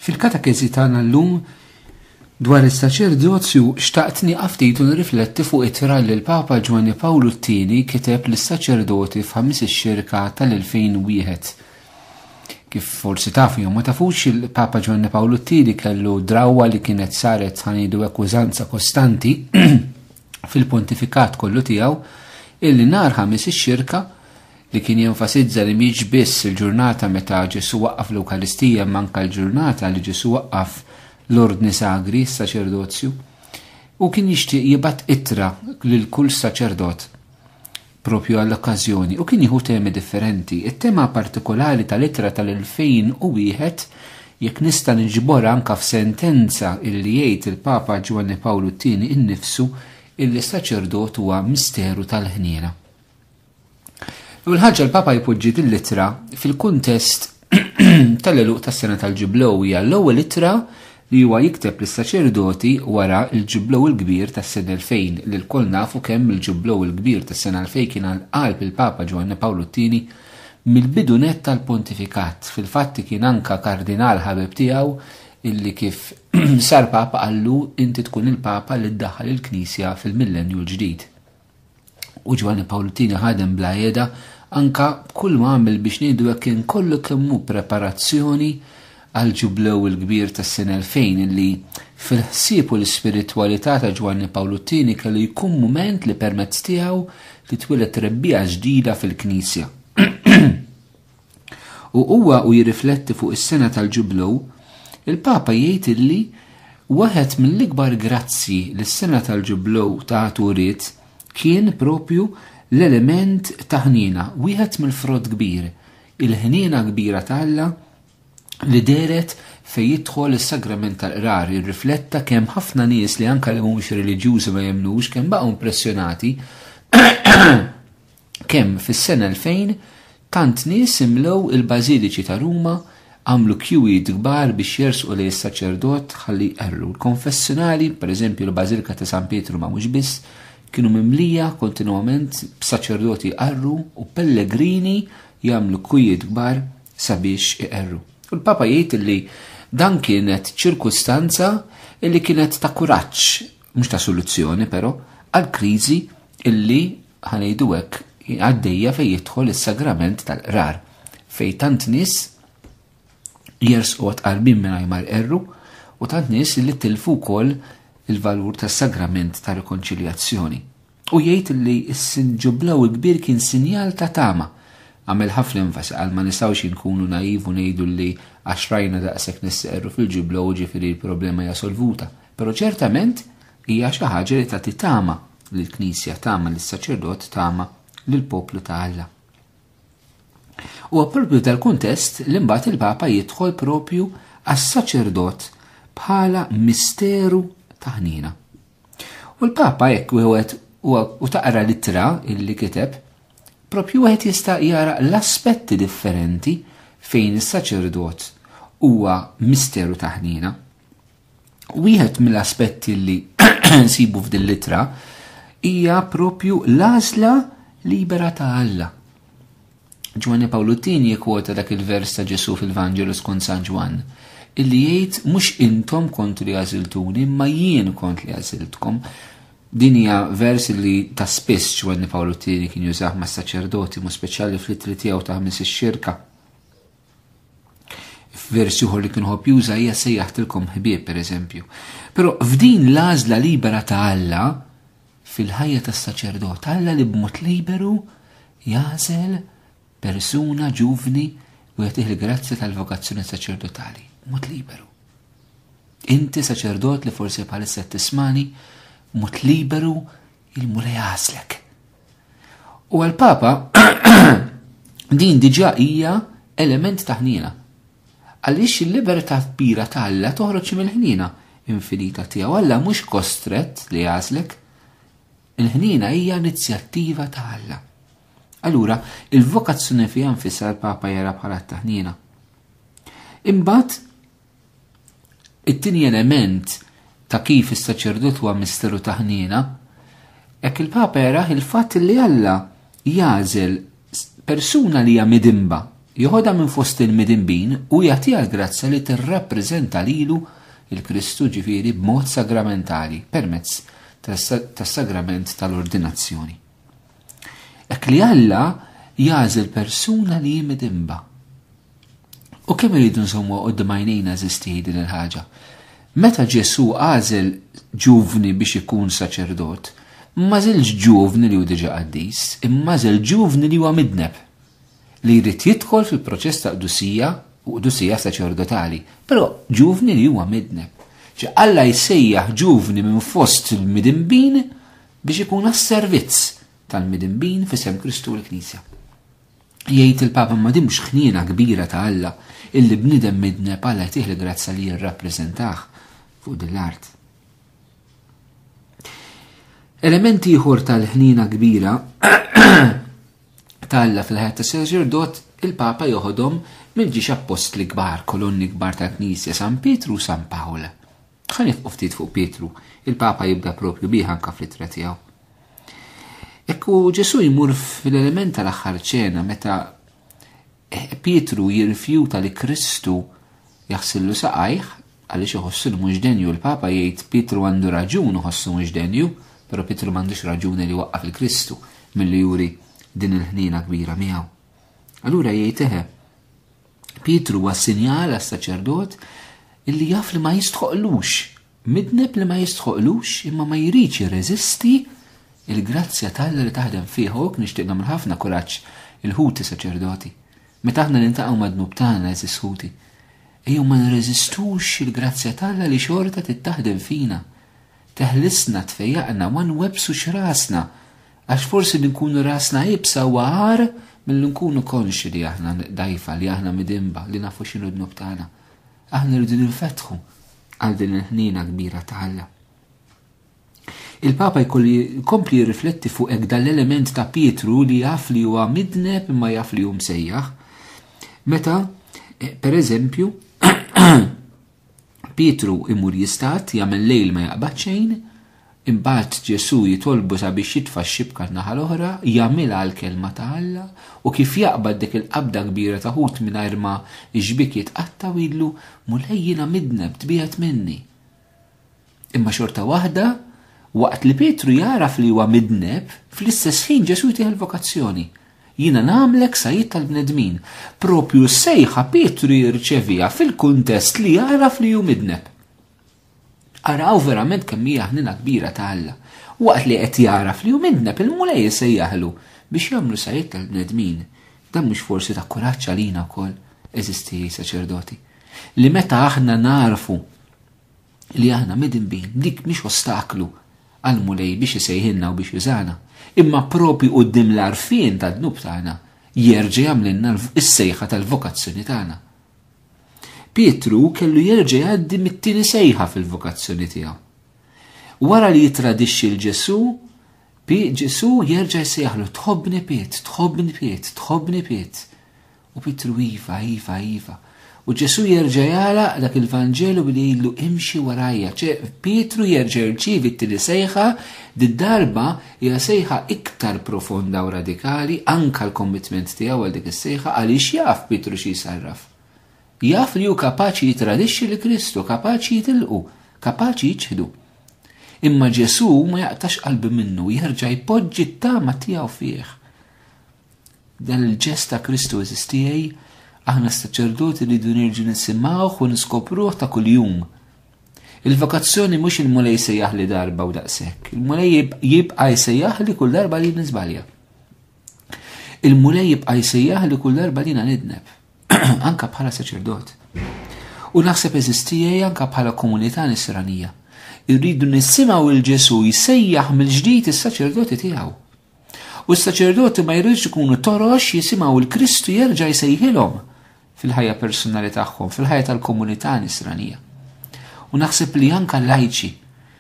Fil-katakezi tagħna llum dwar is-saċerdozju xtaqt nieqaf ftit u nirrifletti fuq it-tra li l-Papa Ġwanni Pawlu t-Tieni kiteb lis-saċerdoti f'ħamis ix-xirka tal-2001. Kif forsi tafu jew ma tafux il-Papa Ġwanni Pawlu t-Tieni kellu drawwa li kienet saret ħanidu hekk użanza kostanti fil-pontifikat kollu tiegħu, illi nhar Ħamis ix-Xirka, li kien jenfasizza li mhix biss il-ġurnata meta Ġesù waqqaf l-Ewkaristija imma anke l-ġurnata li Ġesù waqqaf l-Ordni Sagri, s-saċerdozju, u kien jixtieq jibgħat ittra lil kull saċerdot propju għall-okkażjoni u kien jieħu temi differenti. It-tema partikolari tal-ittra tal-2001 jekk nista' niġbor anka f'sentenza illi jgħid il-Papa Ġwanni Pawlu t-tieni innifsu illi saċerdot huwa misteru tal-ħniena. U l-ħaġa l-Papa jpoġġi din l-ittra fil-kuntest tal-eluq tas-sena tal-ġublow hija l-ewwel ittra li huwa jikteb lis-saċerdoti wara l-ġublow il-kbir tas-sena 2000 li lkoll nafu kemm il-ġublow il-kbir tas-sena 2000 kien għal qalb il-Papa Ġwanni Pawlu t-Tieni mill-bidu nett tal-pontifikat. Fil-fatt kien anka kardinal ħabib tiegħu illi kif sar Papa qallu inti tkun il-Papa li ddaħħal il-Knisja fil-millenju l-ġdid. U Ġwanni Pawlu Tini ħadem bla jeda anka b'kull ma għamil biex ngħidu hekk kien kollu kemm hu preparazzjoni għal ġublew il-kbir tas-sena 2000 li fil-ħsieb u l-ispiritwalità ta' Ġwanni Pawlu Tini kellu jkun mument li permezz tiegħu titwieled trebbija ġdida fil-Knisja. U huwa u jirrifletti fuq is-sena tal-Ġublu, il-Papa jgħid illi waħed mill-ikbar grazzji li s-sena tal-Ġublu tat uriet kien propju l-element ta' ħniena, wieħed mill-frott kbir, il-ħniena kbira ta' Alla li dehret fejn jidħol is-sagrament tal-qrar jirrifletta kemm ħafna nies li anke li mhumiex reliġjużi ma jemmnux kemm baqgħu impressjonati kemm fis-sena 2000 tant nies imlew il-bażiliċi ta' Ruma għamlu kjuwijiet kbar biex jersqu lejn is-saċerdot ħalli jqerru. Il-konfessinali, pereżempju l-Bażilika ta' San Pietru ma mhux biss, kienu mimlija kontinwament b'saċerdoti jqarru u pellegrini jagħmlu kwijiet kbar sabiex iqerru. U l-Papa jgħid li dan kienet ċirkustanza illi kienet ta' kuraġġ, mhux ta' soluzzjoni però, għal kriżi illi ħanejdu hekk għaddejja fejn jidħol is-sagrament tal-qrar fejn tant nies jersqu għatqarbin mingħajr ma erru u tant nies li tilfu wkoll il-valur tas-sagrament ta' rikonċiljazzjoni. U jgħid li s-sinġublaw kbir kien sinjal ta' tama. Għamel ħafna enfasi għal ma nistgħux inkunu naivu ngħidu li għax rajna daqshekk nisseqru fil-ġublaw ġifieri l-problema hija solvuta. Però ċertament hija xi ħaġa li tagħti tama lill-Knisja tama lis-saċerdot tama lill-poplu ta' Alla. U propju dal-kuntest li mbagħad il-Papa jidħol propju għas-saċerdot bħala misteru ta' ħnina. U l-Papa jekk wieħed u taqra l-ittra illi kiteb, propju wieħed jista' jara l-aspetti differenti fejn is-saċerdot huwa misteru taħnina. Wieħed mill-aspetti li nsibu f'din litra hija propju l-għażla libera ta' Alla. Ġwanni Pawlu Tini jikwota dak il-vers ta' Ġesu fil-Vanġelu skont San Ġwann, illi jgħid mhux intom kont li għażiltuni, ma jien kont li għażiltkom. Din hija vers li ta' spiss Ġwanni Pawlu Tini kien jużah mas-saċerdoti, mu speċjali fl-itri tiegħu ta' ħmis ix-xirka. F'versi uħor li kien ħobb juża hija sejjaħtilkom ħbieb pereżempju. Però f'din l-għażla libera ta' Alla fil-ħajja tas-saċerdot, Alla li b'mod liberu jażel persuna ġuvni u jagħtih il-grazzja tal-vokazzjoni saċerdotali, mod liberu. Inti saċerdot li forsi bħalissa tismani, mod liberu Il-Mulej għażlek. U għal-Papa din diġà hija element ta' ħniena. Għaliex il-libertà kbira ta' Alla toħroġ mill-ħniena infinita tiegħu. Alla mhux kostrett li għażlek. Il-ħniena hija inizjattiva ta' Alla. Allura, il-vokazzjoni fiha nfisha l-Papa jara bħala taħnina. Imbagħad It-tieni element ta' kif is-saċerdot huwa misteru ta' ħniena, hekk il-Papa jaraħ il-fatt li Alla jagħżel persuna li hija midimba, joħodha minn fost il-midimbin u jagħtiha l-grazzja li tirrappreżenta lilu il-Kristu ġifieri b'mod sagramentali permezz tas-sagrament tal-ordinazzjoni. Hekk li Alla jagħżel persuna li hi midimba. U kemm irridu nżommu qudiem għajnejna eżisti din il-ħaġa. Meta Ġesu għażel ġuvni biex ikun saċerdot, ma żilx ġuvni li hu diġà qaddis, imma żel ġuvni li huwa midneb li jrid jidħol fil-proċess ta' qdusija u qdusija saċerdotali, però ġuvni li huwa midneb. Ġi Alla jsejjaħ ġuvni minn fost il-midinbin biex ikun għas-servizz tal-midinbin fisem Kristu l-Knisja. Jgħid il-Papa ma din mhux ħniena kbira ta' Alla illi bniedem midneb Alla jtih l-grazza li jirrappreżentah fuq din l-art. Element ieħor tal-ħniena kbira ta' Alla fil-ħajja ta' saċerdot il-Papa joħodhom mill-ġiex appostli kbar, kolonni kbar tal-Knisja San Pietru u San Pawl. Ħa nifqu ftit fuq Pietru, il-Papa jibda propju bih anka fl-ittra tiegħu. Ekku Ġesu jmur fil-element tal-aħħar ċena meta eh, Pietru jirrifjuta li Kristu jaħsillu saqajh għaliex iħossu li mhux denju l-Papa jgħid Pietru għandu raġun iħossu mhux denju, però Pietru m'għandux raġuni li waqqaf il-Kristu milli juri din il-ħnina kbira miegħu. Allura jgħid eħe, Pietru huwa sinjal għas-saċerdot illi jaf li ma jistħoqlux, midneb li ma jistħoqlux imma ma jridx jirreżisti il-grazzja tal li taħdem fih u nixtieq nagħmel ħafna kuraġġ il-ħuti saċerdoti. Meta aħna nintaqgħu mad-dnub tagħna eżis ħuti, ejjew ma nirreżistux il-grazzja tal li xorta tittaħdem fina. Teħlisna tfejjaqna ma nwebsu x'rasna Għax forsi li nkunu rasna iebsa huwa agħar milli nkunu konxji li aħna dgħajfa, li aħna midinba, li nafu x'inhu d-dnub tagħna. Aħna rridu ninfetħu għal din il-ħniena kbira ta' Alla. Il-Papa jkompli jirrifletti fuq hekk dal-element ta' Pietru li jaf li huwa midneb imma jaf li hu msejjaħ. Meta, eh, per eżempju, Pietru imur jistad, jagħmel lejl ma jaqbad xejn, imbagħad Ġesù jitolbu sabiex jitfa' x-xibka n-naħa l-oħra, jagħmilha għall-kelma ta' Alla, u kif jaqbad dik il-qabda kbira ta' ħut mingħajr ma x-xbiek jitqatta' u jgħidlu, Mulej jiena midneb, tbiegħed minni. Imma xorta waħda, waqt li Pietru jagħraf li huwa midneb, fl-istess ħin Ġesù jtih il-vokazzjoni. Jiena nagħmlek sajjied tal-bnedmin. Propju s-sejħa Pietru jirċevija fil-kuntest li jagħraf li hu midneb. Araw verament kemm hija ħnina kbira ta' Alla. Waqt li qed jagħraf li hu midneb il-mulej isejjaħlu biex jagħmlu sajjied tal-bnedmin. Dan mhux forsi ta' kuraġġ għalina wkoll, eżisti saċerdoti. Li meta aħna narfu li aħna midinbin dik mhix ostaklu għall-Mulej biex isejħilna u biex jużana, imma proprju quddiem l-għarfien tad-dnub tagħna jerġa' jagħmlilna s-sejħa tal-vokazzjoni tagħna. Pietru kellu jerġa' jgħaddi mit-tieni sejħa fil-vokazzjoni tiegħu. Wara li jitradixxi l Ġesu, Ġesu jerġa' jsejħlu tħobbni Piet, tħobbni Piet, tħobbni Piet. U Pietru iva, iva, iva. U Ġesù jerġa' jagħlaq dak il-Vanġelu billi jgħidlu imxi warajja, ċe Pietru jerġa' jirċievi t-tieni sejħa, did-darba hija sejħa iktar profonda u radikali, anka l-kommitment tiegħu għal dik is-sejħa għaliex jaf Pietru xi jsarraf. Jaf li hu kapaċi jitradixxi li Kristu, kapaċi jitilqu, kapaċi jiċħdu. Imma Ġesù ma jaqtax qalbi minnu, jerġa' jpoġġi t-tama tiegħu fih. Dan il-ġest ta' Kristu eżis tiegħi, aħna s-saċerdoti li dun irġu nisimgħuh u niskopruh ta' kuljum. Il-vokazzjoni mhux il-mulej sejjaħ li darba u daqshekk. Il-mulej jibqa' jsejjaħ li kull darba li niżbalja. Il-mulej jibqa' jsejjaħ li kull darba li nidneb, anka bħala saċerdot. U naħseb eżistijaj anka bħala komunità nisranija. Irridu nisimgħu il-Ġesu jsejjaħ mill-ġdid is-saċerdoti tiegħu. U s-saċerdoti ma jridux ikunu torox jisimgħu l-Kristu jerġa' jsejħilhom fil-ħajja personali tagħhom, fil-ħajja tal-komunità nisranija. U naħseb li anka lajċi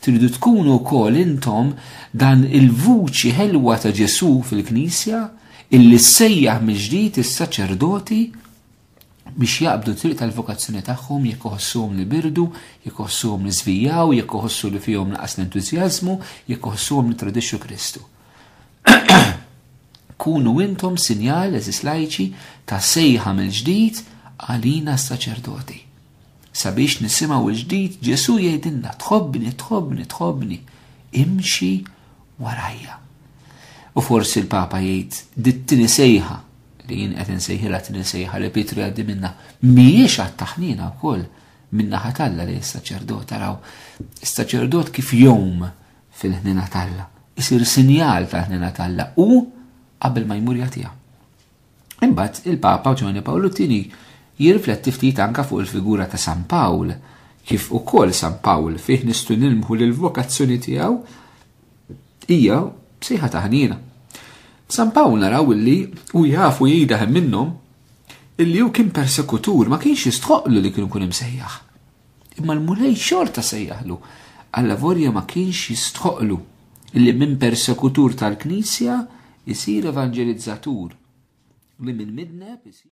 tridu tkunu wkoll intom dan il-vuċi ħelwa ta' Ġesu fil-Knisja illi ssejjaħ mill-ġdid is-saċerdoti biex jaqbdu t-triq tal-vokazzjoni tagħhom jekk iħossuhom li birdu, jekk iħossuhom li żvijaw, jekk iħossu li fihom naqas l-entużjażmu, jekk iħossuhom li tradixxu Kristu. Kunu intom sinjal, eżis lajċi, ta' sejħa mill-ġdid għalina s-saċerdoti. Sabiex nisimgħu l-ġdid Ġesu jgħidilna tħobbni, tħobbni, tħobbni, imxi warajja. U forsi l-Papa jgħid dit-tieni sejħa li jien qed insejħilha din insejħa li Pietru jgħaddi minna mhijiex għat-taħnina wkoll minna ħatalla li s-saċerdot taraw. Is-saċerdot kif jom fil-ħnina talla, isir sinjal tal-ħnina talla u qabel ma jmur jagħtiha. Imbagħad il-Papa Ġoni Pawlu tieni jirrifletti ftit anka fuq il-figura ta' San Pawl, kif ukoll San Pawl fih nistu nilmħu l-vokazzjoni tiegħu Hija sejħa taħnina. San Pawl naraw illi u jafu jida hemm minnhom illi hu kien persekutur ma kienx jistħoqlu li kienu kun imsejjaħ. Imma l-mulej xorta sejjaħlu għalla vorja ma kienx jistħoqlu illi minn persekutur tal-Knisja jisir evangelizzatur li minn midneb